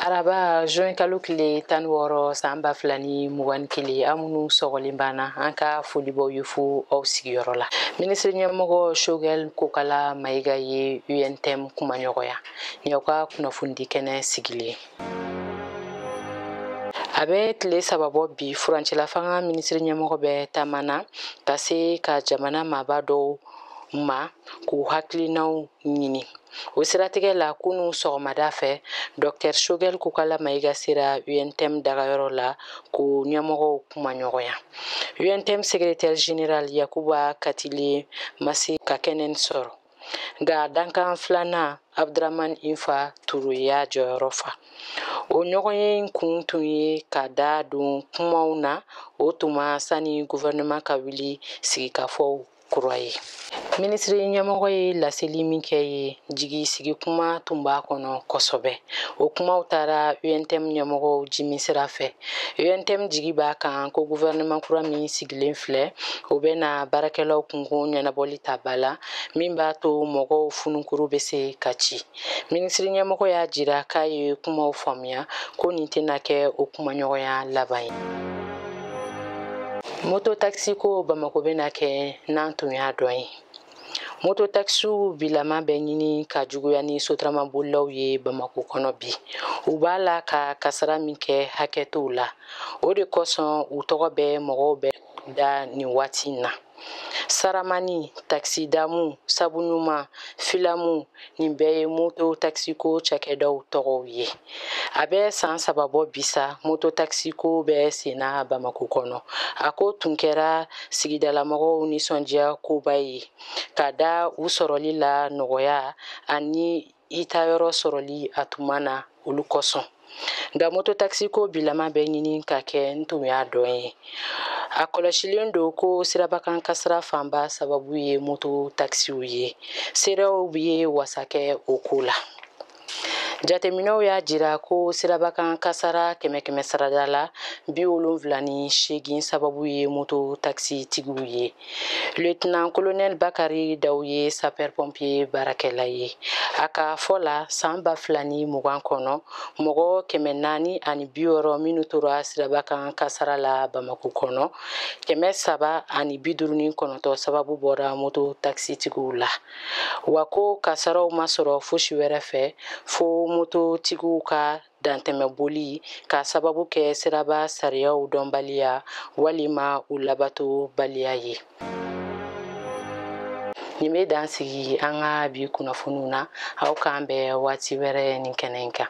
araba juin kalo tile tan wɔɔrɔ san ba fila ni mugan ni kelen aw minnu sɔgɔlen b'an na an ka foli b'aw ye fo aw sigiyɔrɔ la minisiri ɲɛmɔgɔ shogɛl kokala mayiga ye untm kumaɲɔgɔnya ni aw ka kunnafonidi kɛnɛ sigilen a bɛ tile saba bɔ bi furancɛlafanga minisiri ɲɛmɔgɔ bɛ taama na ka se ka jamana maaba dɔw ma k'u hakilinaw ɲini o siratigɛ la kunu sɔgɔmada fɛ dɔktɛr shogɛl kokala mayiga sera untm dagayɔrɔ la k'u ɲɛmɔgɔw kumaɲɔgɔnya untm secrétaire général yakuba katile ma se ka kɛnɛ in sɔrɔ nka dankan filanan abduraman infa ture y'a jɔyɔrɔ fa o ɲɔgɔnye kun tun ye ka da don kumaw na o tuma sani guvɛrɛnɛman ka wuli sigikafɔw kura ye minisiri ɲɛmɔgɔ ye laseli min kɛ ye jigi sigi kuma tun b'a kɔnɔ kosɛbɛ o kumaw taara untm ɲɛmɔgɔw jimin sira fɛ untm jigi b'a kan ko guvɛrɛnaman kura min sigilen filɛ o bɛ na baarakɛlaw kunko ɲɛnabɔli ta ba la min b'a to mɔgɔw fununkuru bɛ se ka ci minisiri ɲɛmɔgɔ y'a jira k'a ye kumaw faamuya ko nin tɛna kɛ o kumaɲɔgɔnya laban ye moto takisi ko bamako bɛna kɛ n'an tun y'a dɔn ye moto takisiw bilama bɛ ɲini ka juguya ni sotaramabolilaw ye bamako kɔnɔ bi u b'a la ka kasara min kɛ hakɛ t'o la o de kosɔn u tɔgɔ bɛ mɔgɔw bɛɛ da nin waati in na saramani takisi damu sabuɲuman filamu nin bɛɛ ye moto takisiko cakɛdaw tɔgɔw ye a bɛ san saba bɔ bi sa moto takisiko bɛ senna bamako kɔnɔ a ko tun kɛra sigidalamɔgɔw nisɔndiya koba ye ka da u sɔrɔli lanɔgɔya ani i taayɔrɔ sɔrɔli a tuma na olu kosɔn nka mototakisiko bilama bɛ ɲini ka kɛ n tun y'a dɔn ye a kɔlɔsilen don ko sirabakan kasara fanba sababu ye moto takisiw ye seerew ye wasa kɛ o ko la jateminɛw y'a jira ko sirabakan kasara kɛmɛ kɛmɛ sarada la bi wolonfila ni seegin sababu ye moto takisitigiw ye Lieutenant colonel Bakari Daw ye sapeur pompier baarakɛla ye a ka fɔ la san ba fila ni mugan kɔnɔ mɔgɔ kɛmɛ naani ani bi wɔɔrɔ minnu tora siraba kan kasara la Bamako kɔnɔ kɛmɛ saba ani bi duuru ni kɔnɔntɔn sababu bɔra moto takisitigiw la wa ko kasaraw ma sɔrɔ fosi wɛrɛ fɛ fo mototigiw ka dantɛmɛ boli k'a sababu kɛ siraba sariyaw dɔnbaliya walima u labato baliya ye nin bɛ dan sigi an ka bi kunnafoniw na aw k'an bɛn waati wɛrɛ nin kɛnɛ in kan